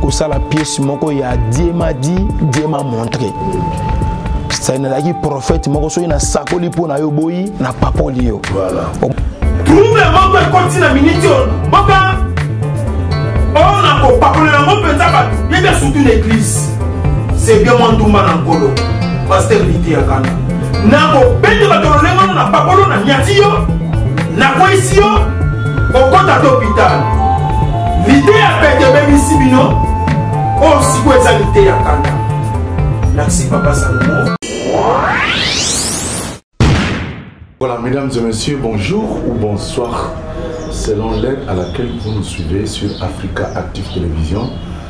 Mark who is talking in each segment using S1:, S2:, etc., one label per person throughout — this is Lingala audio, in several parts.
S1: kosala pièce moko ya dieu m'a dit dieu m'a montré sai nazalaki prophète moko soki nasakoli mpo na yo boyi na papoli yo trouble moko ekoti na miniti oyo boka oyo na kopakola yango mpenza bato yebia surtout na église c'est bien mwa ndumba na nkolo paster lite ya kanda nakobeta bato lolenge ono na pakolo na nyati yo nakweyisi yo okota to hopital lite ya pete ebebisi bino oyo sikoyo eza lite ya kanda merci papa salomo
S2: Voilà, mesdames et messieurs, bonjour ou bonsoir, selon l'aide à laquelle vous nous suivez sur Africa Active Télévision.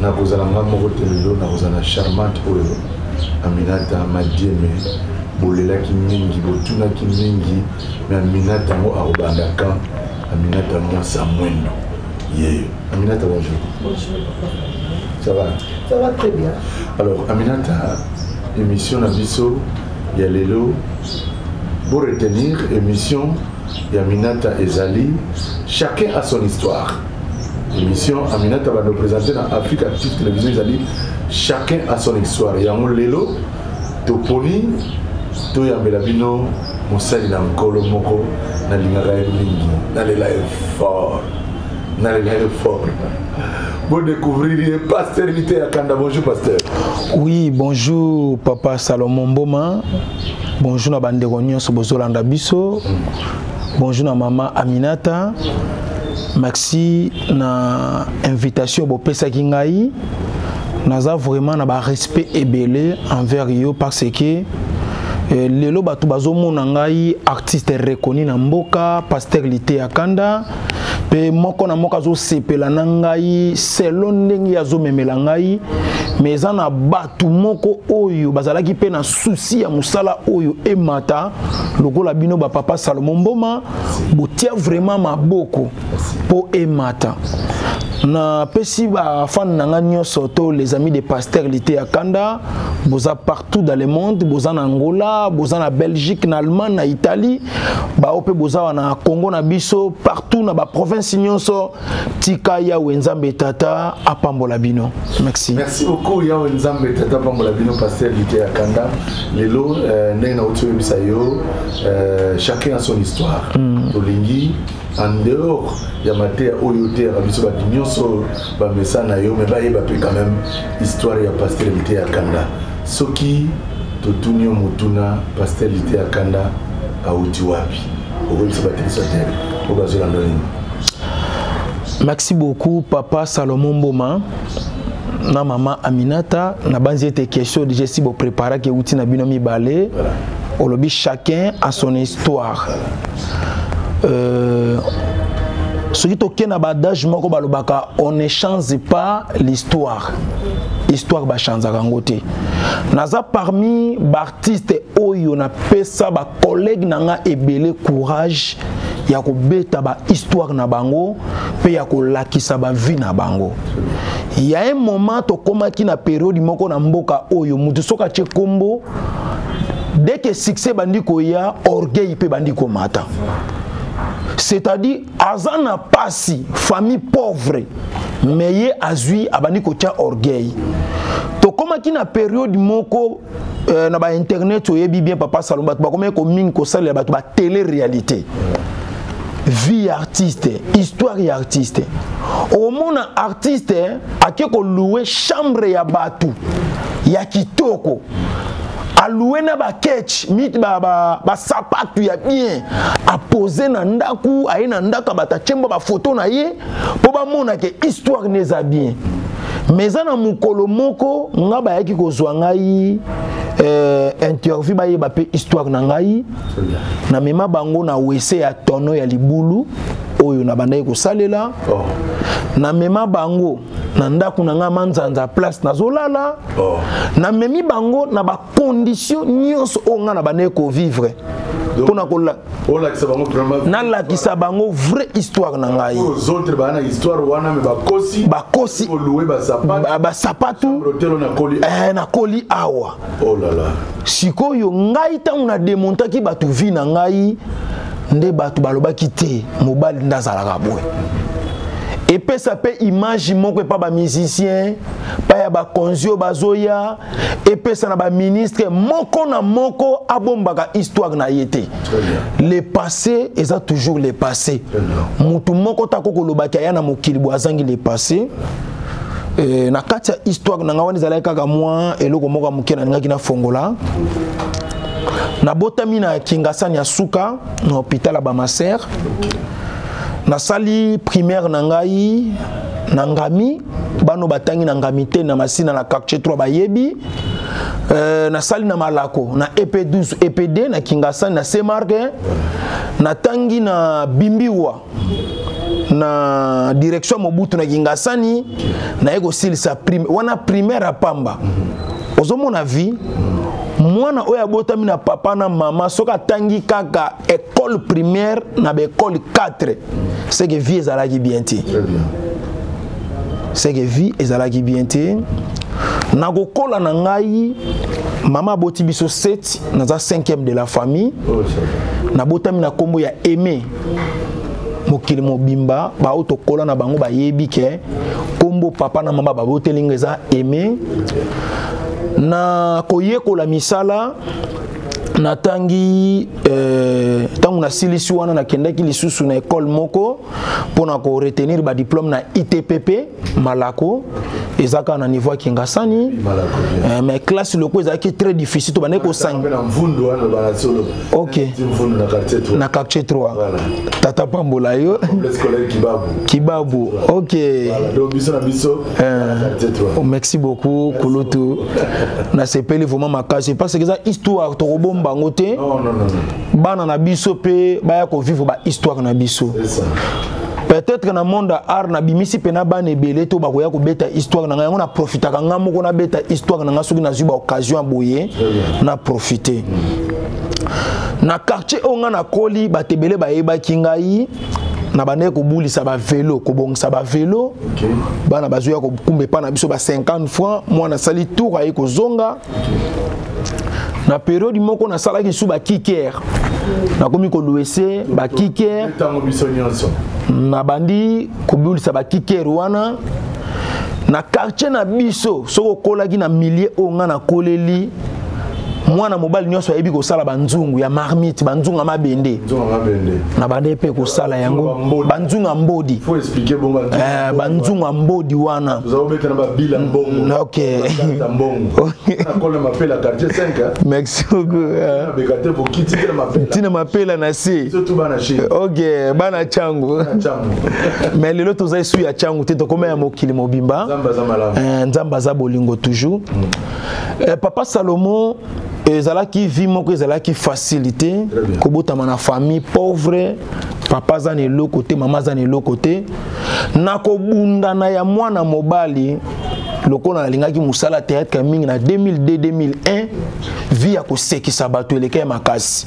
S2: nakozala nga moko te lelo nakozala charmante oyo aminata madieme bolelaki mingi botunaki mingi me aminata yango akobanda kan aminata yango asa mwendo ye aminata bonjour
S3: ça va ça va très bien alors aminata
S2: émission na biso ya lelo bo retenir émission ya minata ezali chacun a son histoire émission aminata bando présente na afrique active télévision ezali chacun à son histoire yango lelo toponi toyambela bino mosali na nkolo moko nalingaka ye mingi nalela ye fort nalela ye fort bodécouvrir ye pasteur lite ya kanda bonjour pasteur oui
S1: bonjour papa salomon mboma bonjour na bandeko nyonso bozolanda biso Bonjour na maman Aminata. Maxi na invitation bopesaki ngai naza vraiment na ba respect ebele envers yo parce que Eh, lelo bato bazomona ngai artiste reconnu na mboka paster liteya kanda mpe moko na moko azosepela na ngai selo ndenge azomemela ngai mais eza na bato bato moko oyo bazalaki mpe na susi ya mosala oyo emata lokola bino bapapa salomo mboma botia vraimen maboko mpo emata napesi bafane na ngai nyonso to les amis de pasteur lite ya kanda boza partout dans le monde boza na angola boza na belgique na allemagne na italie baoyo mpe boza wana congo na biso partout na baprovince nyonso tika yawe nzambe tata apambola bino merci merci beaucoup yawe
S2: nzambe tata apambola bino pasteur lite ya kanda lelo euh, ndenge nauti oyebisa yo euh, chacun a son histoire mm. tolingi en dehors ya mateya oyo oteyaka biso bato nyonso bamesa na yo me bayeba mpe quand même histoire ya pasteur lite ya kanda soki totuni yo motuna pasteur lite ya kanda auti wapi okomisa batekisa te oyo bazela
S1: ndolini merci beaucoup papa salomon mboma na mama aminata nabanzi ete question deja esi bopreparaki euti na bino mibale olobi chacun a son histoire euh, soki toke na baadage moko balobaka on ne change pas l'histoire histoire bachanzaka yango te naza parmi artiste oyo na pesa ba collègue na nga ebele courage ya kobeta ba histoire na bango pe ya kolakisa ba vie na bango ya un moment tokomaki na periode moko na mboka oyo mutu soki atie kombo dès que succès bandi koya orgueil pe bandi komata c'est-à-dire aza na pasi famille pauvre mais ye azwi abandi kotya orgueil tokomaki na periode moko euh, na bainternet oyebi bien papa salon bato bakomaki komingi kosalela bato ba télé réalité vie ya artiste histoire ya artiste okomona artiste ake koloue chambre ya bato ya kitoko aloue na baketch mit basapatu ba, ba ya bien apose na ndako aye na ndako ya bato atyemba bafoto na ye mpo bamona ke histoire ne eza bien mais eza na mokolo moko nga bayaki kozwa ngai euh, interview bayeba mpe histoire na ngai na mema bango na wese ya tono ya libulu oyo nabandaki kosalela oh. na mema bango na ndako na ngai manzanza place nazolala oh. na memi bango na condition nyonso oyo ngai na bandeki kovivre mpona kola nalakisa bango vraie histoire na ngai
S2: bakosi basapatu
S1: eh, nakoli awa oh
S2: sikoyo
S1: ngai ntango na demontaki bato vi na ngai nde bato balobaki te mobali nde azalaka boye epesa mpe image moko epa bamusicien mpa ya bakonzi oyo bazoya epesa na baministre moko na moko abombaka histoire na ye te le passé eza toujours le passé motu moko tako kolobaki aya na mokili bo azangi le passé Eh, na kati ya histoire na ngai wana ezalaki kaka mwa eloko moko ya moke nalingaki nafongola nabotami na kingasani ya suka na hôpital ya bamaser nasali primaire na ngai na ngami bano batangi na ngamite na masina na quartier 3 bayebi euh, nasali na malako na ep 12 ep 2 na kingasani na semarke natangi na bimbiwa na direction mobutu na kingasani naye kosilisa prime wana primaire apamba ozomona vie mwana oyo abotami na papa na mama soki atangi kaka école primaire na ba école 4 c'est que vie ezalaki bien te c'est que vie ezalaki bien te na kokola na ngai mama aboti biso 7 naza 5e de la famille oh, nabotami na kombo ya aimé mokili mobimba baoyo tokola na bango bayebi ke kombo papa na mama baboteli nga eza aimé na koyekola misala natangi eh, ntango nasilisi wana nakendaki lisusu na ekole moko mpo na koretenir badiplome na itpp malako eza kaka na niveau ya kingasani eh, mais classe loko ezalaki très difficile tobandaki kosanga na quartier 3 tata pambola yo kibabu ok Euh, merci beaucoup kulutu nasepeli vraiment makasi parce que eza histoire tokobomba yango te bana na biso mpe baya kovivre bahisttoire na biso peut-être na monde ya art nabimisi mpe na bana ebele to bakoya kobeta histoire na ngai yango naprofitaka ngai moko nabeta histoire na ngai soki nazwi baoccasion ya boye na profite na quartier oyo ngai nakoli bato ebele bayebaki ngai nabandaki kobulisa bavelo kobongisa bavelo okay. bana bazoya kokumba epai na biso ba 50 francs mwana asali tour aye kozonga okay. na periode moko nasalaki lisusu bakiker nakomi koluese bakiker nabandi kobulisa bakiker wana na quartier na biso soki okolaki na milieu oyo ngai nakoleli mwana mobali nyonso ayebi kosala banzungu ya marmite banzungu ya mabende na bande mpe kosala yango banzungu ya mbodi eh,
S2: banzungu ya
S1: mbodi wana mm,
S2: ok merci beaucoutntina mapela na se
S1: ok
S2: bana
S1: cango mais lelo toza esu ya cango te tokoma ya mokili mobimba nzambe aza eh, bolingo toujours mm. Eh, papa Salomon ezalaki vie moko ezalaki facilité kobotama na famille pauvre papa aza na eloko te mama aza na eloko te na kobundana ya mwana mobali lokola nalingaki mosala théâtre ya mingi na 2002-2001 vie ya kosekisa bato eleka ya makasi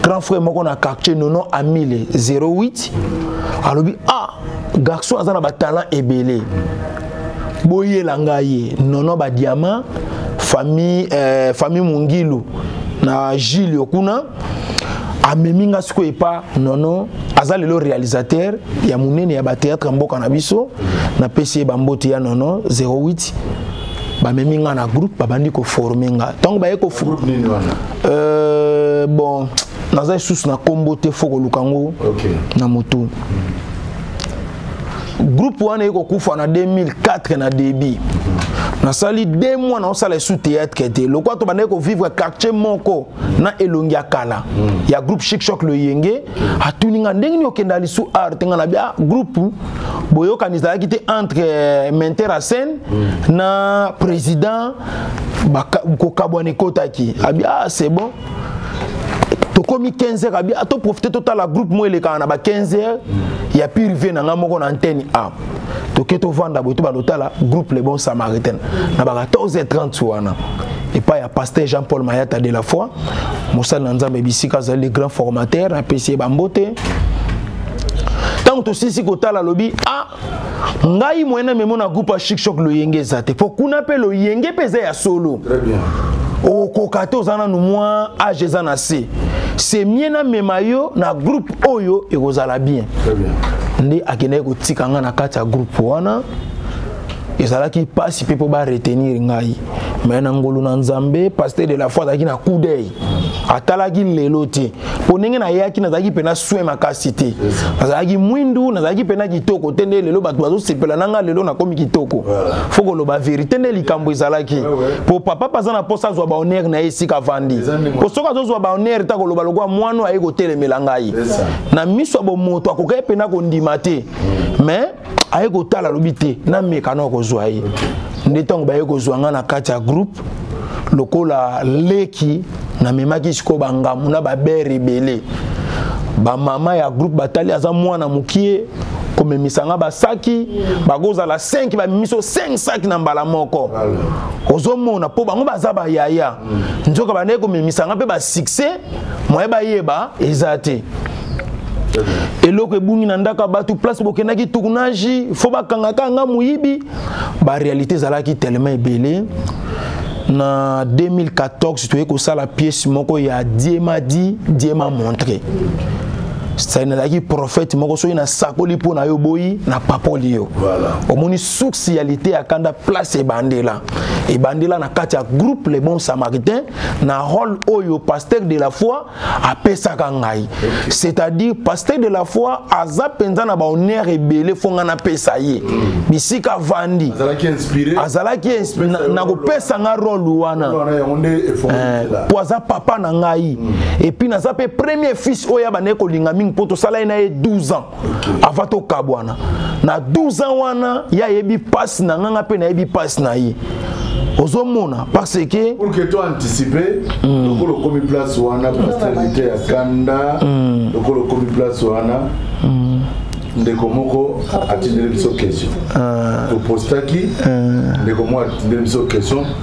S1: grand frère moko na quartier nono amile 08 alobi ah garçon aza na batalent ebele boyela ngai ye nono badiama famille eh, famille mungilu na julio kuna amemi nga sikoyo epa nono aza lelo réalisateur ya monene ya batéâtre ya mboka na biso napesi ye bambote ya nono 08 bamemi nga na groupe babandi koforme nga ntango baye ko euh, bon naza lisusu na nkombo te fo koluka yango okay. na motu mm. groupe wana ekokufa na 2004 na début nasali de mois naosala esu théâtre te lokwa tobandaki kovivre quartier moko na elongi ya kala hmm. ya groupe chic choc le yenge atuni nga ndenge nini okenda lisu art nga na bia groupe boyokani ezalaki te entre euh, menter a scène hmm. na président kokabwana ekotaki abi ah c'est bon tokomi 15 heures abi to profiter totala groupe mo elekaka na ba 15 heures ya pire vie na nga moko na antenne a toke tovanda boye tobanda otala groupe le bon samaritain na ba 14 heures 30 wana epai ya pasteur jean paul mayata de la foi mosali na nzambe bisika azali le grand formateur apesi ye bambote ntango tosilisi kotala alobi a ah, ngai moyen na memo na groupe ya shikshok loyenge eza te mpo kuna mpe loyenge mpe eza ya solo
S2: okokoka
S1: te oza nanu mwa age eza na se se mie namema yo na groupe oyo ekozala bien
S2: nde akendaki
S1: kotika ngai na kati ya groupe wana ezalaki mpasi mpe mpo baretenir ngai mai na ngolu na nzambe pasteur de la foi azalaki na coup d'oeil atalaki lelo te mpo ndenge nayaki nazalaki mpena soin makasi te nazalaki mwindu nazalaki mpena kitoko te nde lelo bato bazosepela na ngai lelo nakomi kitoko fo koloba verité nde likambo ezalaki mpo papa mpe aza na mposa azwa bahonneur na ye esika avandi mpo soki azozwa bahonneur te akoloba lokola mwana oyo aye kotelemela ngai na miso ya bomoto akokaki mpena kondima te mais aye kotala alobi te nameka na kozwa ye nde ntango baye kozwa ngai na kati ya groupe lokola leki namemaki sikoyo bangambo na babere ebele bamama ya groupe batali aza mwana mokie komemisa nga basaki bakozala 5 bamemiso 5 saki na mbala moko ozomona mpo bango baza bayaya nzoka bandaki komemisa nga mpe basuccès moye bayeba eza te eloko ebungi na ndako ya bato place bokendaki tournage fo bakangaka nga moyibi barealité ezalaki telema ebele na 2014 toye kosala pièce moko ya diema di diema montre sai nazalaki prophète moko soki nasakoli mpo na yo boyi na papoli yo omoni suksi ya lite ya kanda place ebandela ebandela na kati ya groupe le bon samaritain na role oyo pasteur de la foi apesaka ngai c'est-à-dire pasteur de la foi aza mpenza na bahonneur ebele fo ngai napesa ye bisika avandi azalaki na kopesa ngai role wana eh, mpo aza papa na ngai mm. epuis naza mpe premier fils oyo abandaki kolinga mingi mpo tosala ye na ye 12 ans avant tokabwana na 12 ans wana ye ayebi mpasi na nganga mpe nayebi mpasi na ye ozomona parce que pour que toi anticiper
S2: mm. lokola okomi place wana pastelite ya kanda mm. lokola okomi place wana mm. ndeko moko atindeli biso question ah. topostaki ah. ndeko moko atindeli biso question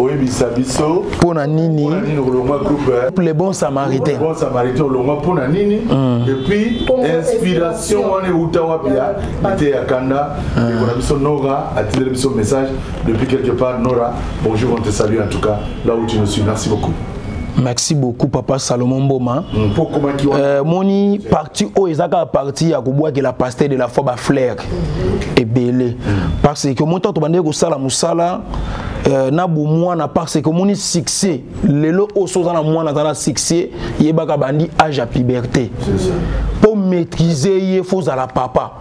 S1: oyebisa
S2: biso mpo na nini le bon samaritain
S1: bon samaritain olongwa
S2: mpo na nini mm. epuis inspiration wana euta wapi ya ete ya kanda mm. ndeko na biso nora atindeli biso message depuis quelque part nora bonjour on te salue en tout cas là où tu nous suis merci beaucoup merci beaucoup
S1: papa salomon mboma mm, euh, moni parti oyo eza kaka parti ya kobwakela pasteur de la foi baflaire ebele mm. parce que moto ato bandeki kosala mosala Euh, na bomwana parce que omoni succès lelo oyo soki oza na mwana aza na succès yebaka bandi age ya puberté mpo maîtrise ye fo ozala papa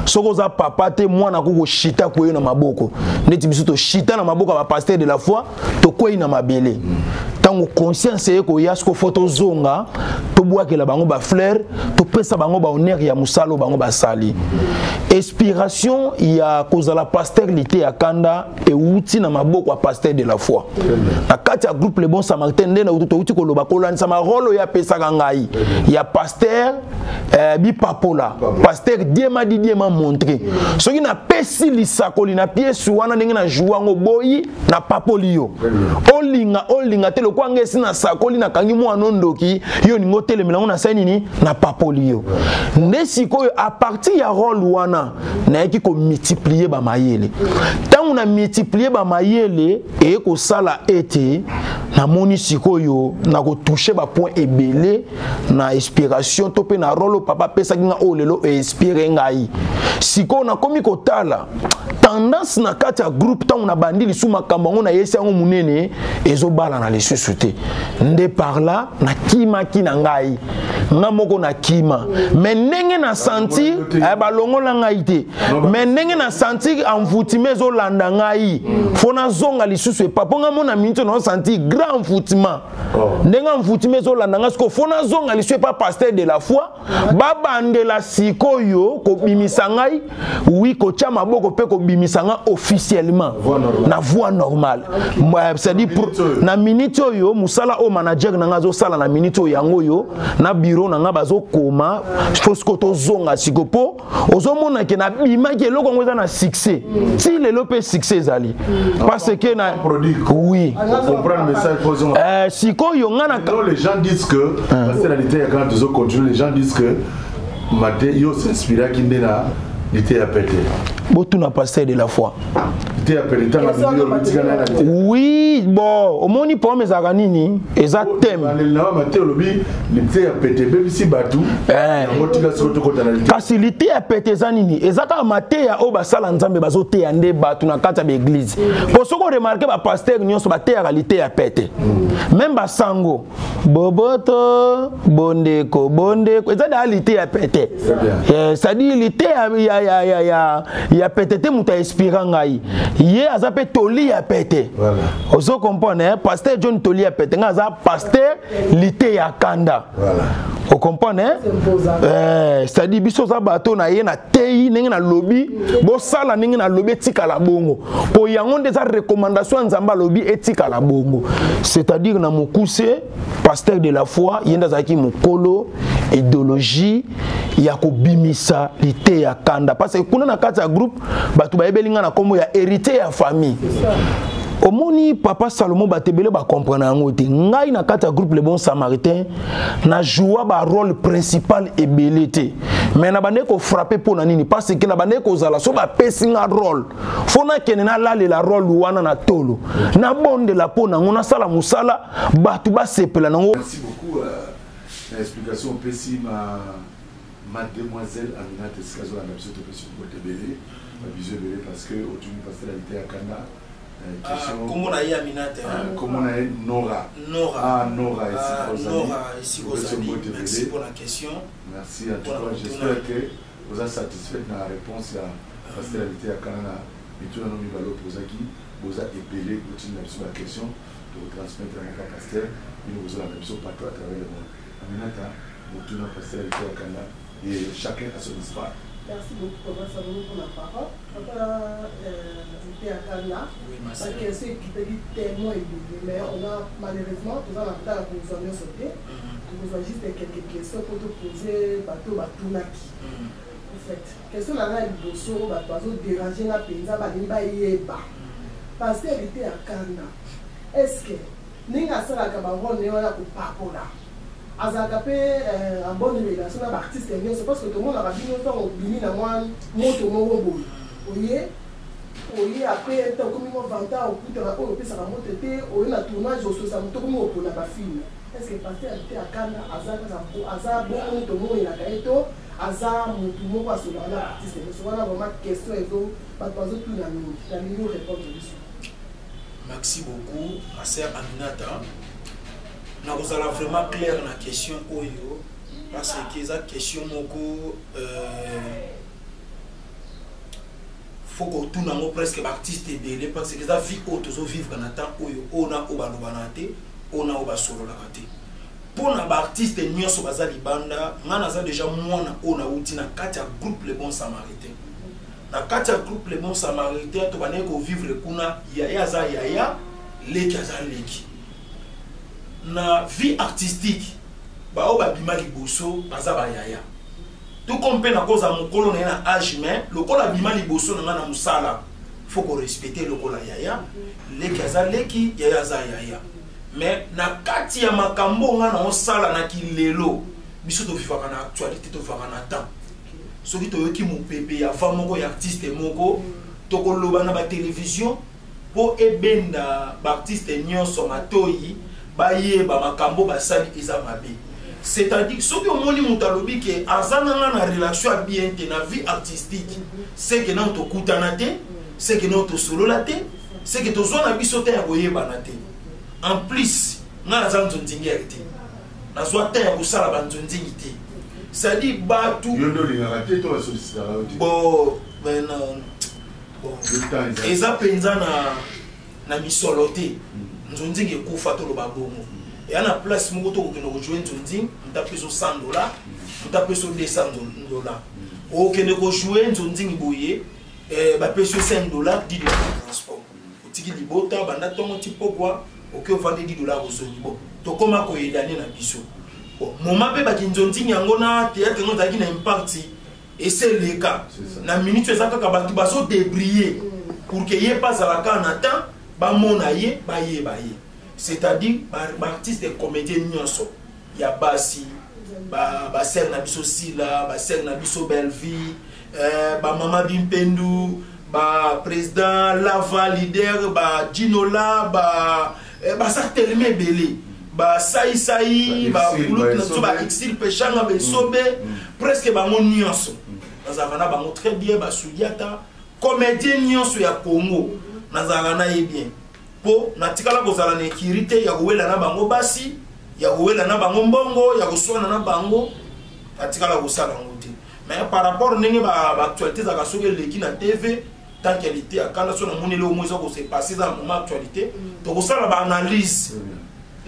S1: soki oza papa te mwana akoki koshita kweye na maboko ndeti biso toshita na maboko ya bapaster de la foi tokwei na mabele ntango conscience eye koya soko fo tozonga tobwakela bango bafleur topesa bango bahonneur ya mosala oyo bango basali inspiration ya kozala pasteur lite ya kanda euti na maboko ya pasteur de la foi na kati ya groupe le bon samaritain nde na touti koloba kolandisa marole oyo apesaka ngai ya pasteur eh, bipapola pasteur diema didiema montre soki napesi lisakoli na piese wana ndenge na joua yango boyi na papoli yo olinga olinga te lokola ngai esi nasakoli nakangi mwana ondoki yo olingi otelemela yango nasali nini na papoli yo nde sikoyo apartir ya role wana nayaki komultiplie bamayele ntango na multiplie bamayele eye kosala ete namoni sikoyo nakotushe bapoint ebele na inspiration to mpe na role papa apesaki nga oyo lelo einspire ngai sikoyo nakomi kotala tendance na kati ya groupe ntango nabandi lisusu makambo yango nayesi yango monene ezobalana lisusu te nde par là nakimaki na ngai nga moko nakima me ndenge na sentir eh, balongola ngai te me ndenge na sentir envoutime ezolanda ngai fo nazonga lisusu epa mpo ngai mona miniti naosentir grand envoutiment oh. ndenge mvutimi ezolanda nga sikoyo fo nazonga liso epa pasteur de la foi babandela sikoyo kobimisa ngai wi kotya maboko mpe kobimisa ngai officiellement na voie normale cestadi na minute oyo mosala oyo manager na ngai azosala na minute oyo yango oyo na biro na ngai bazokoma fo sikoyo tozonga sikoyo mpo ozomona ke nabimaki eloko yango eza na succès ti lelo mpe succès ezali parce que na oui euh,
S2: sikoyo
S1: nga na les gens disent que
S2: parce que na liteya kaka tozo continue les gens disent que mate yo s'inspiraki nde na liteya pete botuna pasteur
S1: de la foi te ya pele tanga video lobitika na na
S2: te oui bon omoni
S1: problème ezalaka nini eza thème na ma te lobi lite ya pete bebisi batu eh. yango tika siko tokota na lite kasi lite ya pete eza nini eza kaka mateya oyo basala nzambe bazoteya nde bato na kati ya baeglize mpo soki oremarke bapastere nyonso bateyaka lite ya pete meme basango boboto bondeko bondeko eza daa lite ya pete eh, cestadire lite ya, ya, ya, ya, ya, ya pete te moto ainspira ngai ye aza mpe toli ya pete voilà. ozo comprendre eh? paster john toli ya pete ngai aza paster lite ya kanda voilà. okomprendre eh, cestadire biso oza bato na ye na tei ndenge nalobi bosala ndenge nalobi etikala bongo mpo yango nde eza recommandation ya nzambe alobi etikala bongo c'est-à-dire na mokuse pasteur de la foi ye nde azalaki mokolo ideologie ya kobimisa lite ya kanda parce que kuna na kati ya groupe bato bayebeli ngai na nkombo ya héritier ya famille omoni papa salomo bato ebele bakomprana yango te ngai na kati ya groupe le bon samaritain na joua barole principal ebele te mais na bandeki kofrappe mpo na nini parce que na bandeki kozala so bapesi nga role fo nakende nalalela role wana na tolo nabondela mpo nango nasala mosala bato basepela nango euh,
S2: na explication opesi ma mademoiselle aminate esika azolanda biso topesi kote ebele babizu ebele parce que otuni pasteur alite ya kanda euh, ah,
S4: kombo na ye aminate ah, kombo na ye
S2: nora nora ah, nora esika ozali merci mpona question
S4: merci en tout
S2: cas j'espère que Oza satisfaite na reponse ya pasteur liteya kala na mituna no mibale opozaki? Boza ebele botinda biso ba question toko transmettre yango epa pasteur bino bozolanda biso partout à travers le monde. Aminata motuna pasteur liteya kala ye chacun a son histoire. Merci beaucoup papa
S3: salomo pona parole papa liteya kala ba question ekitaki tellement ebele mais on a malheureusement toza na temps ya kozua nionso te. tokozwa juste quelques questions mpo topose bato batunaki en fait question na ngai ya liboso oyo bato bazoderange nga mpenza balingi bayeba paster hérité ya kanda est ce que ndenge asalaka barole ne wana kopakola azalaka mpe euh, en bonne relation na baartiste nyonso parce que tomonaka bino ntango obimi na mwa moto moko boye oye Oye après un temps okomi ko vantard okuta ba oyo opesaka mbote te oye na tournage ososa moto okomi kopona ba film est ce que pasteur te akanda aza kaka aza bongo moto omonelaka ye to aza motu moko asolaka na artiste nyonso wana vraiment question ezo bato bazotuna mingi nalingi orépondre biso maxi
S4: beaucoup ma sœur aminata nakozala vraiment clair na question oyo parce que eza question moko euh, faut kotuna yango presque baartiste ebele parce que eza vie oyo tozovivre na temps oyo oyo na oyo balobanaka te oyo na oyo basololaka te mpo na baartiste nyonso baza libanda ngai naza deja mwana oyo nauti na kati ya groupe le bon samaritain na kati ya groupe le bon samaritain tobandaki kovivre kuna yaya aza yaya leki aza leki na vie artistique baoyo babima liboso baza bayaya tout comme mpe nakozala mokolo na ye na age mais lokola abima liboso na ngai na mosala fo korespecte lokola yaya leki aza leki yaya aza yaya mais na kati ya makambo ngai naosala na kilelo biso tofifaka na actualité tofifaka na temps soki toyoki mopepe ya fa moko ya artiste moko tokoloba na batelevizio mpo ebenda baartiste nyonso matoi bayeba makambo basali eza mabe c'est-à-dire soki omoni moto alobi ke aza na nga na relation ya bien te na vie artistique seke nano tokutana te seke nano tosolola te seke tozwa na biso te ya koyebana te en plus ngai naza nzonzingere te nazwa te ya kosala banzonzingi te c'est-à-dire bato bo ben non eza mpenza na, na misolo te mm. nzonzingi ekufa toloba bongo eya na place moko tokokende kojue nzonzingi mutu apesa 100 dollar mutu apesa 200 dollar okende kojue nzonzingi boye eh, bapesi 5 dollar 10 dollar ya transport otiki libota banda ntongo ti pokwa oke ovandi 10 dollar ozongi bo tokóma koyedane na biso moma mpe bakinzonzingi yango na teyatre yango ezalaki na impakti esi eleka na minute oyo eza kaka bato bazo debriller pour que ye mpe azala kaka na temps bamona ye bayeba ye c'est-à-dire baartiste ba comédien nyonso ya basi basere ba na biso sila basere na biso bellevie eh, bamama bimpendu ba président lava leader ba dinola ba eh, baza telema ebele basaisai bakulutu na biso baexil peshanga besobe mm. mm. presque bango nyonso mm. nazalaka na bango très bien basudiata comédien nyonso ya congo nazalaka na ye bien mpo natikala kozala na ekiri te ya kowela na bango basi ya kowela na bango mbongo ya koswana na bango natikala kosala yango te mais par rapport ndenge baactualité ezalaka soki eleki na tv tant qu'elle était à Kanda, son amour est au moins qu'on s'est passé dans le moment actualité. Mm. Donc, ça, la analyse. Mm.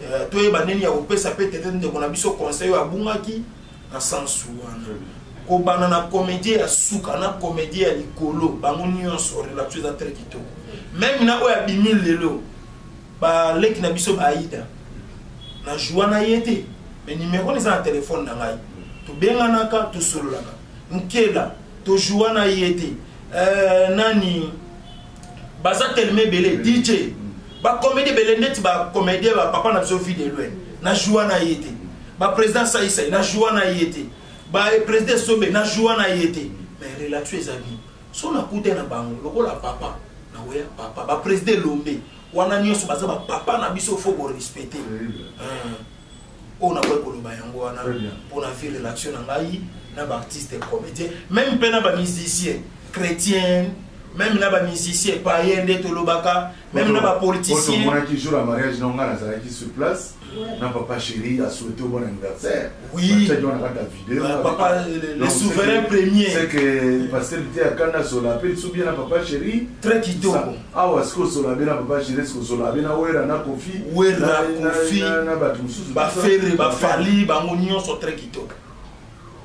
S4: Euh, toi, il y a des gens qui ont peut-être des gens qui ont conseil à Boungaki, dans le sens où. kobanda na comédie ya suka na comédie ya likolo bango nyonso relation eza très kitoko meme na oyo abimi lelo baleki na biso baida na joua na ye te mais numero eza na telefone na ngai tobenganaka tosololaka nkela tojoua na ye te euh, nani baza telema ebele dj bacomédie ebele ndeti bacomédien bapapa na biso vie de loin na joua na ye te baprésident saisai na joua na ye te baprésident sobe na joua na ye te mais relation eza bien so nakuta na bango lokola papa na oya papa baprésident elombe wana nyonso baza bapapa na biso fo korespecte oyo nakoki koloba yango wana mpo na vie relation na ngai na baartiste comédien meme mpe na bamusicien chrétien meme na bamusicien paye nde tolobaka meme na bapoliticienmonaki jour ya mariage
S2: na ngai nazalaki sur place na papa chéri asouhaite bon anniversaire wiataki wana kaka
S4: videopapa
S2: euh,
S4: le souverain premier c'est que pasteur
S2: te akanda sola mpe lisu bien na papa chéri très kitoko
S4: Awa sikoyo solabe
S2: na papa Gilles ko solabe na Werra na Kofi Werra Kofi na bato mosusu ba Ferre ba
S4: Fally bango nyonso très kitoko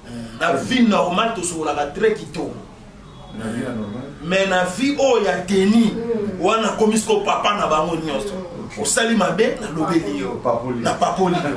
S4: hmm, na vie normale tosololaka très kitoko hmm.
S2: mais na vie
S4: oyo oh, ya teni hmm. wana akomi sikoyo papa na bango nyonso osali mabe nalobeli yo napapoli yo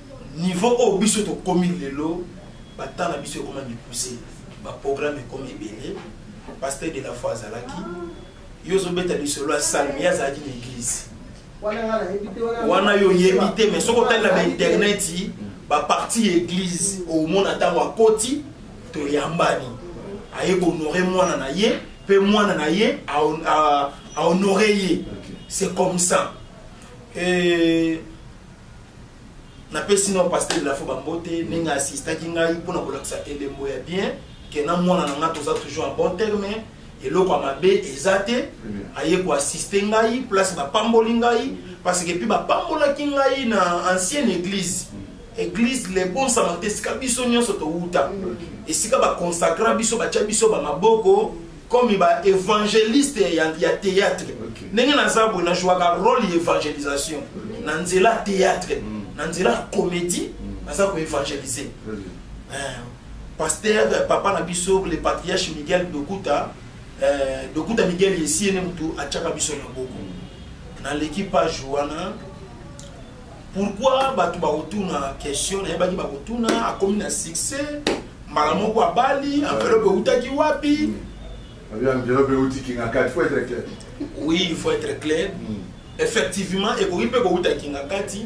S4: niveau oyo biso tokomi lelo bata na biso ekoma mipuse baprogramme ekomi ebele pasteur de la foi azalaki yo ozobeta lisolo ya salme ye azalaki na eglise wana yo oyebi te mais soki otali na bainternet baparti ya eglise omona ntango akoti toyambani aye kohonore mwana na ye mpe mwana na ye ahonore ye c'est comme ça Et napesi na pasteur lafo bambote ndenge asistaki ngai mpo na kolakisa elembo ya bien ke na mwana na ngai toza toujours en bon terme eloko ya mabe eza te aye koassiste ngai place bapamboli ngai parce que mpe bapambolaki ngai na ancienne église église le bon samarité esika biso nyonso towuta esika baconsacra biso batya biso bamaboko comme ba évangéliste ya, ya théâtre okay. ndenge naza boye najwaka rôle ya évangélisation okay. na nzela théâtre mm. na nzela comédie mm. naza koévangélise mm. eh, pasteur eh, papa na biso le patriarche miguel dokuta eh, dokuta miguel yesiene motu atyaka biso na boko mm. naleki page wana pourquoi bato bakotuna question nayebaki bakotuna akomi na succès mbala moko abali enveloppe eutaki wapi hmm. enveloppe
S2: euti kingakati faut être clair oui il faut être
S4: clair hmm. effectivement ekoki mpe kouta kingakati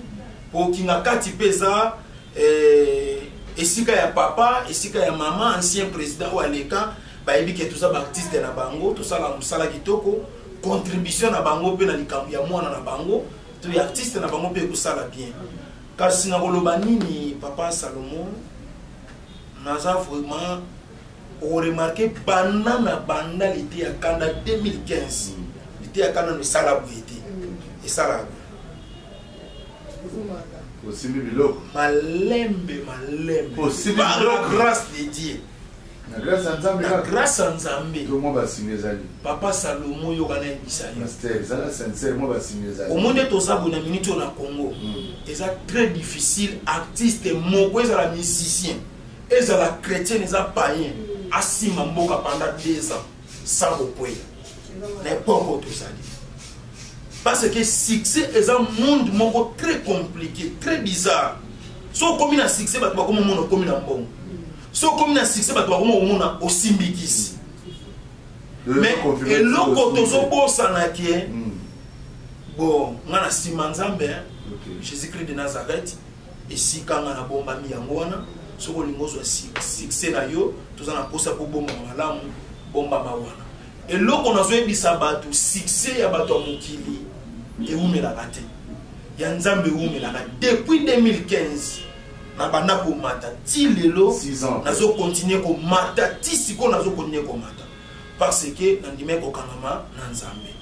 S4: mpo kingakati mpe eza eh, esika ya papa esika ya mama ancien président oyo aleka bayebi ke toza baartiste na bango tosala mosala kitoko contribution na bango mpe na likambo ya mwana na bango to ya artiste na bango mpe ekosala bien kasi nakoloba nini papa salomo naza vraiment oremarke banda na banda lite ya kanda 2015 lite ya kanda no esala boye te esalaka
S2: osimbi biloko malembe
S4: malembe
S2: par la grâce
S4: de dieu Na grâce ya
S2: Nzambe. Na grâce ya Nzambe.
S4: To mwa basimi ezali.
S2: Papa Salomo
S4: yoka na yebisa yo. Pasteur, zala sincère
S2: mwa basimi ezali. Omonde toza bo na
S4: minute na Congo. Hmm. Eza très difficile artiste moko ezala musicien. Ezala chrétien eza païen. Hmm. Asima mboka pendant 2 ans sans kokwela. Na epoque tozali. Parce que succès est un monde moko très compliqué, très bizarre. Si on commune à succès, bah, tu vas comme on commune en bon. so okomi na succès bato bakoma komona osimbi kisi mais eloko tozobosana ke hmm. bon nga na nsima nzambe jésus christ de nazareth esika nga nabombami yango wana soki olingi ozwa succès na yo toza na mposa kobomama malamu bombama wana eloko nazoyebisa bato succès ya bato ya mokili ewumelaka te ya nzambe ewumelaka depuis 2015 nabanda komata ti lelo nazokontinue komata ti sikoyo nazokontinue komata parce que nandimai kokangama na nzambe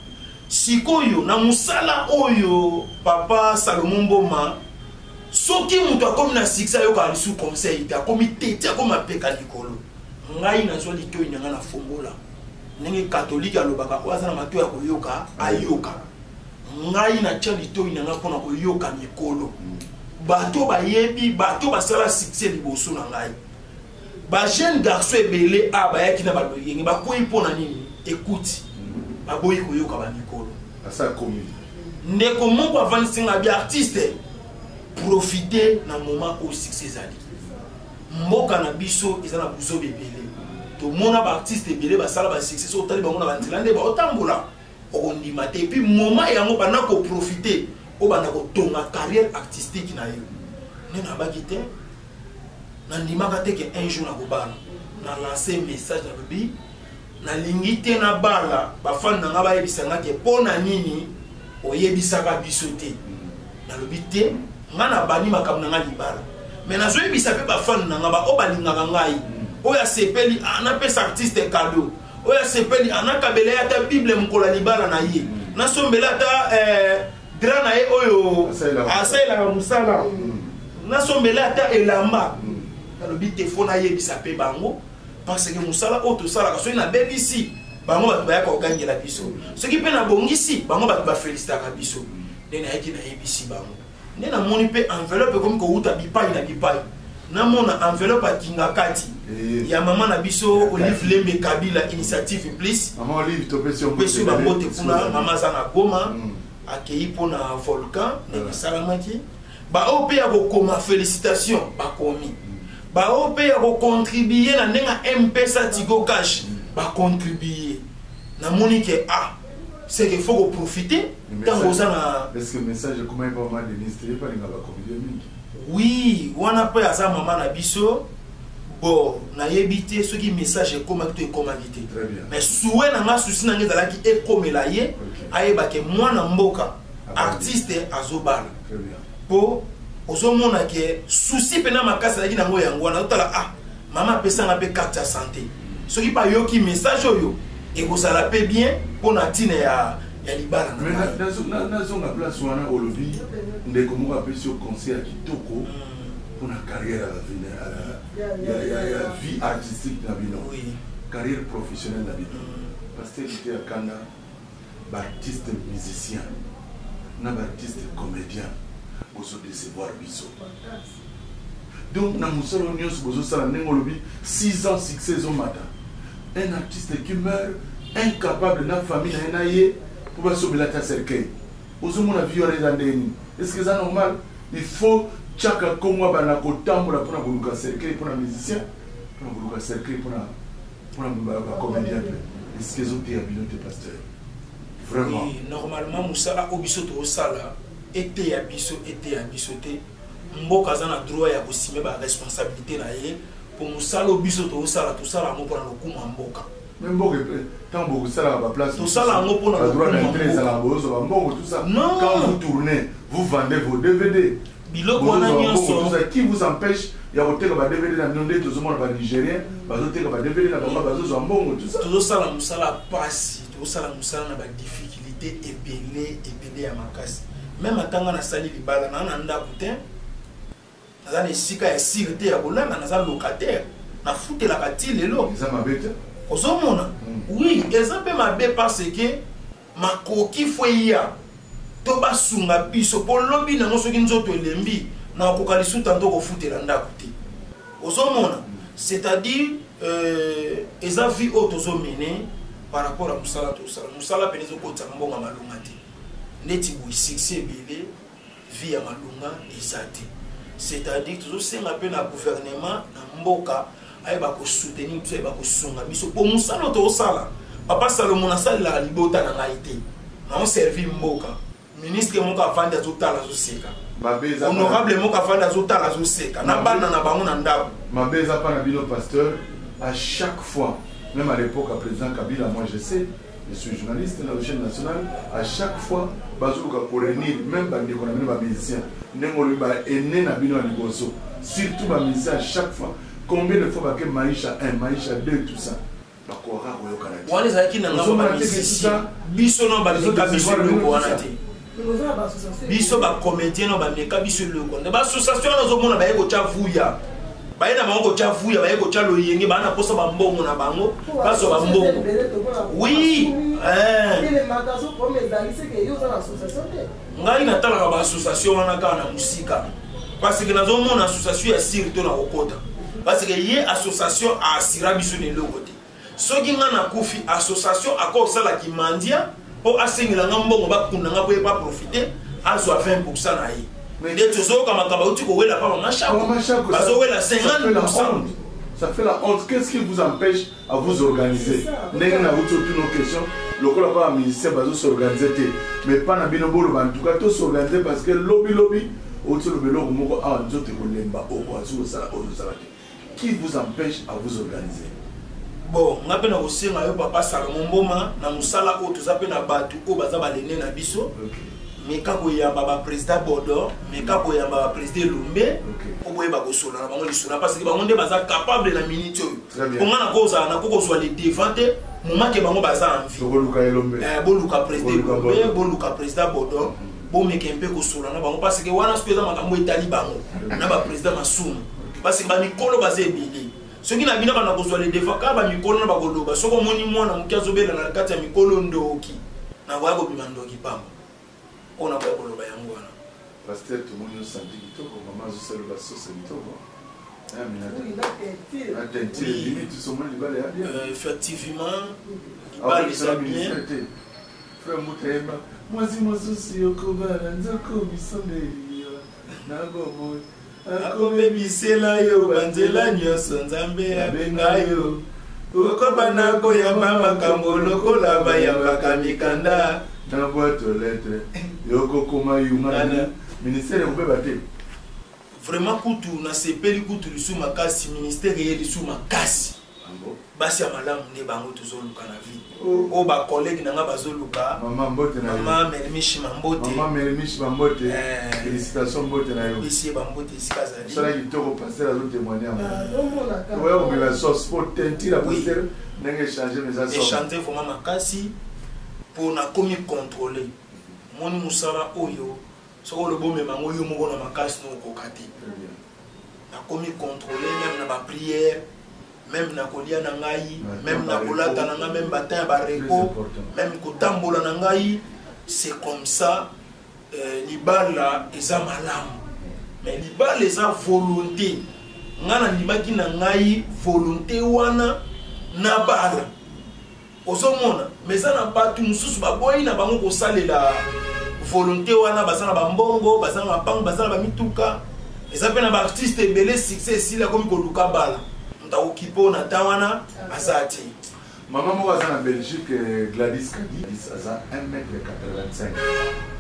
S4: sikoyo na mosala oyo papa salomo mboma soki moto akomi na succès ayokaka lisusu conseil te akomi tete akomi apeka likolo ngai nazwa litoi na ngai na fongola ndenge katolike alobaka oyo aza na matoi ya koyoka ayoka ngai natya litoi na ngai mpo na koyoka mikolo mm. bato bayebi bato basala succès liboso na ngai bajeune garçon ebele a bayaki na baloyenge bakwei mpo na nini ekuti mm. baboyi koyoka bamikolo
S2: ndeko moko
S4: avandisi ngai bi artiste profite na moment oyo succès ezali mboka na biso eza na buzoba ebele tomona baartiste ebele basala basuccès so otali bango na banzela nde baotambola okondima te epuis moment yango banda koprofite obanda kotonga carrière artistique na yo nde nabaki te nandimaka te ke un jour nakobala na lance message nalobi nalingi te nabala bafani na ngai bayebisa ngai ke mpo na nini oyebisaka biso te nalobi te ngai nabandi makambo na ngai libala me nazoyebisa mpe bafani na ngai baoyo balingaka ngai oyo asepeli ah, napesa artiste cadeau oyo asepeli anakabela ye ata bible mokolo ya libala na ye nasombela ata eh, dra na ye oyo asalelaka mosala nasombela ata elamba nalobi te fo nayebisa mpe bango parce que mosala oyo tosalaka soki nabebisi bango bato bayaka kogangela biso soki mpe nabongisi bango bato bafelisitaka biso nde nayaki nayebisi bango nde namoni mpe enveloppe ekomi kowuta bipai na bipai namona enveloppe ya kingakati eh. ya mama na biso olive lembe kabila initiative plus pesi
S2: bango te kuna
S4: mama aza na goma hmm. akei mpo na volcan ndenge esalamaki baoyo mpe ya kokoma félicitation bakomi hmm. baoyo mpe ya kocontribue na ndenge mpesa tigo cash hmm. bacontribue namoni ke a ah, c'est que faut ko profiter tango oza na est-ce que message ekomaki
S2: pa mama denise te epa linga bakomedie mingi oui
S4: wana mpe aza mama na biso bon nayebi te soki message ekomaki to ekomaki te mais souwe na nga susi na ngai ezalaki ekomela ye ayeba ke mwana mboka ah, artiste azobala mpo ozomona ke susi mpena makasi azalaki na yango yango wana otala ah mama apesanga mpe carte ya sante soki bayoki message oyo ekozala mpe bien mpo na ntina ya ya libala
S2: nazonga place wana olobi ndeko moko apesi yo conseil ya kitoko mpo na carrière ya vie artistique na bino carrière professionnelle na bino pasteur ite ya kanda baartiste musicien na baartiste comédien bozodecevoir biso donc na mosala nyonso bozosala ndenge olobi 6 ans succès ezomata un artiste qui meurt incapable na famille na ye na ye mpo basombela ata cercueil ozomona vie wana eza ndenge nini estce eza normal il faut chaka kongo abanda kotambola mpona koluka cercueil mpona musicien mpona koluka cercueil mpona mpona bacomédien mpe estce ezoteya bino te pasteur vraiment normalement
S4: mosala oyo biso tozosala eteya biso eteya biso te mboka aza na droit ya kosime ba responsabilité na ye mpo mosala oyo biso tozosala tosala yango mpo na lokumu ya mboka mboka
S2: ntango bokosalaka baplace tosala yango mpo na badroit
S4: na intere ezalaka boyoso bambongo
S2: tusa quand vous tournez vous vendez vos dvd biloko wana nyonso qui vous empêche ya koteka ba dvd na bino nde tozomona ba nigérien bazoteka ba dvd na bango bazozwa mbongo tozosala mosala
S4: pasi tozosala mosala na badifficulté ebele ebele ede ya makasi meme ata nga nasali libala naa na ndako te naza na esika ya sire te ya kolala naza locataire nafutelaka ti lelo
S2: ozomona hmm.
S4: oui eza mpe mabe parce que makoki fo eya to basunga biso mpo lobi nango soki nzoto elembi nakokoka lisusu tanto kofutela ndako te ozomona c'est à dire euh, eza vie oyo tozomene par rapport ya mosala tosala mosala mpene ezokotisaka mbongo ya malonga te neti boye succès ebele vie ya malonga eza te c'est à dire tozosenga mpe na gouvernement na mboka ayeba kosoutenir biso ayeba kosunga biso mpo mosala tosala papa salomo nasalelaka libota na ngai te naoservir mboka ministre moko avandi azotala azoseka honorable moko avandi azotala azoseka na bana na bango na ndako mabe eza mpa na bino
S2: pasteur à chaque fois même à l'époque à président kabila moi je sais je suis journaliste na chaîne nationale à chaque fois bazoluka korenir même bandeko na bino bamusicien ndenge olobi baene na bino ya liboso surtout bamusicien à chaque fois combien de fois bake maisha 1 maisha 2 tout ça bakokaka koyokana te wana ezalaki na ngambo ya
S4: misisi biso no bameka biso eloko wana te biso bacomédien no bameka biso eloko nde baassociation wana ozomona baye kotya vuya baye na bango kotya vuya baye kotya loyenge baa na mposa bambongo na bango bazwa bambongo wi eh. ngai natalaka ba association wana kaka na mosika parce que nazomona association ya sire to na kokota parce que ye association aasira biso na eloko te soki ngai nakufi association akosala kimandia mpo asengela ngai mbongo bakunda ngai mpo ye baprofite azwa 20 pourcent na ye mais nde tozoyoka makambo auti kowela mpa bamashako bazowela 50 pourcent Ça fait la
S2: honte. Qu'est-ce qui vous empêche à vous organiser ndenge na wuti otuna question lokola mpa ba musicien bazo s'organiser te mais mpa na bino boloba en tout cas to s'organiser parce que lobi lobi oti oloba eloko moko awa nzoto ekolemba okoki kosala oyo ozosala te qui vous empêche à vous organiser bon
S4: nga mpe nakosenga yo papa salomo mboma na mosala oyo toza mpe na bato oyo baza balene na biso okay. meka koyamba baprésident bordor meka koyamba baprésident elombe oboyeba kosola na bango lisolo parce que bango nde baza capable na minute oyo mpo nga nakoki kozala nakoki kozwa le devant te momake bango baza en vie boluka eh, président boluka président bodon bomeke mpe kosola na bango parce que wana soki eza makambo etali bango na baprésident masumu parce que bamikolo baza ebele soki na bino bana kozwa le devant kaka bamikolo na bakoloba soki omoni mwana moke azobela na kati ya mikolo ndoki nakoya kobima ndoki pamba oyo nakoya koloba yango wana pasteur
S2: tomoni osanti kitoko mama azosalela sosa kitoko effectivement
S4: balisa bien
S2: frère mutayemba mwasi mosusu yokobala nzokomisa nde eliya nakoboye
S4: akobebisela yo banzela nyonso nzambe abenga yo okoba na koyamba makambo lokola bayambaka mikanda na bwato
S2: letre yokokoma yungana ministere ekobeba te vraiment
S4: kutu nasepeli kutu lisu makasi ministere ye lisu makasi basi ya malamu nde bango tozoluka na vie oyo oh. oh, bacollege na ngai bazoluka mama merimishi mambote
S2: bisi ye bambote
S4: esika
S2: azaliechange vraimen makasi
S4: mpo nakomi controle moni mosala oyo soki olobi omema yango yo moko na makasi na okoka te nakomi contrôle meme na baprière meme na kolia na ngai meme na kolata na ngai meme batin ya barepo meme kotambola na ngai c'est comme ça euh, libala eza malamu mais libala eza volonté ngai nandimaki na ngai volonté wana nabala ozomona ma eza na bato mosusu baboyi na bango kosalela volonté wana baza na bambongo baza na bampango baza na bamituka eza mpe na baartiste ebele succès esili akomi koluka bala moto akokipe oyo na temps wana aza te mama moko
S2: aza na belgique eh, gladis kadis aza 1 mètre 85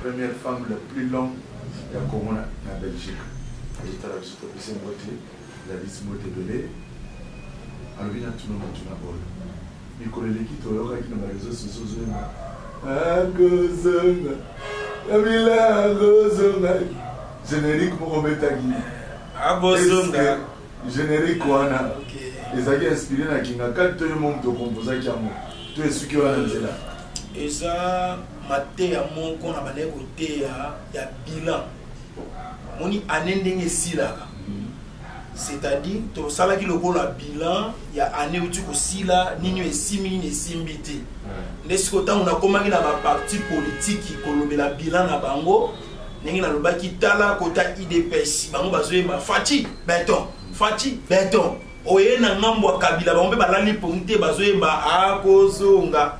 S2: première femme la plus longue ya congo na belgique etala biso topesi yango te Gladys mbote ebele alobi na tuna motuna oyo mikolo eleki toyokaki na bareseau soso ozonga akozonga kabila akozonga générique moko obetaki akozonga
S4: générique
S2: wana ezalaki inspiré na kingakati to yo mo moto okomposaki yango to esuki wana nzela eza
S4: mateya moko na bandaki koteya ya bilan moni année ndenge esilaka c'est-à-dire tosalaki lokola bilan ya année euti kosila nini esimbi nini esimbi te nde sikoyo ntango nakomaki na baparti politiki kolobela bilan na bango ndenge nalobaki tala kota idps bango bazoyemba faci beton faci beton oye na ngambo ya kabila bango mpe balali mpongi te bazoyemba akozonga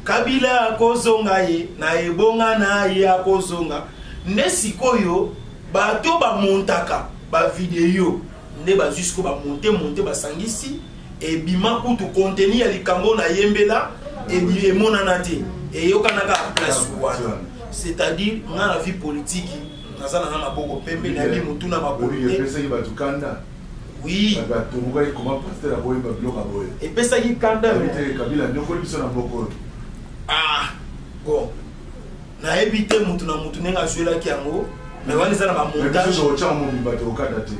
S4: kabila akozonga ye na ebonga na ye akozonga nde sikoyo bato bamontaka bavideo nde bazwi sikoyo bamonte monte basangisi ebima kutu konteni ya likambo na yembela emonana te eyokanaka ya place wana c'est-à-dire nga na vie politiki naza na nga maboko pembe nayebi motuna makolo te Oui. Ba tumbuka et comment pasteur a boyemba biloko boye. Et pesa ki kanda. Kabila Kabila nyokoli biso na mboko. Ah. Bon. Na ebite mutu na mutu nenga zuela ki yango. Mais wana eza na ba montage. Biso ocha mo bimba te okada te.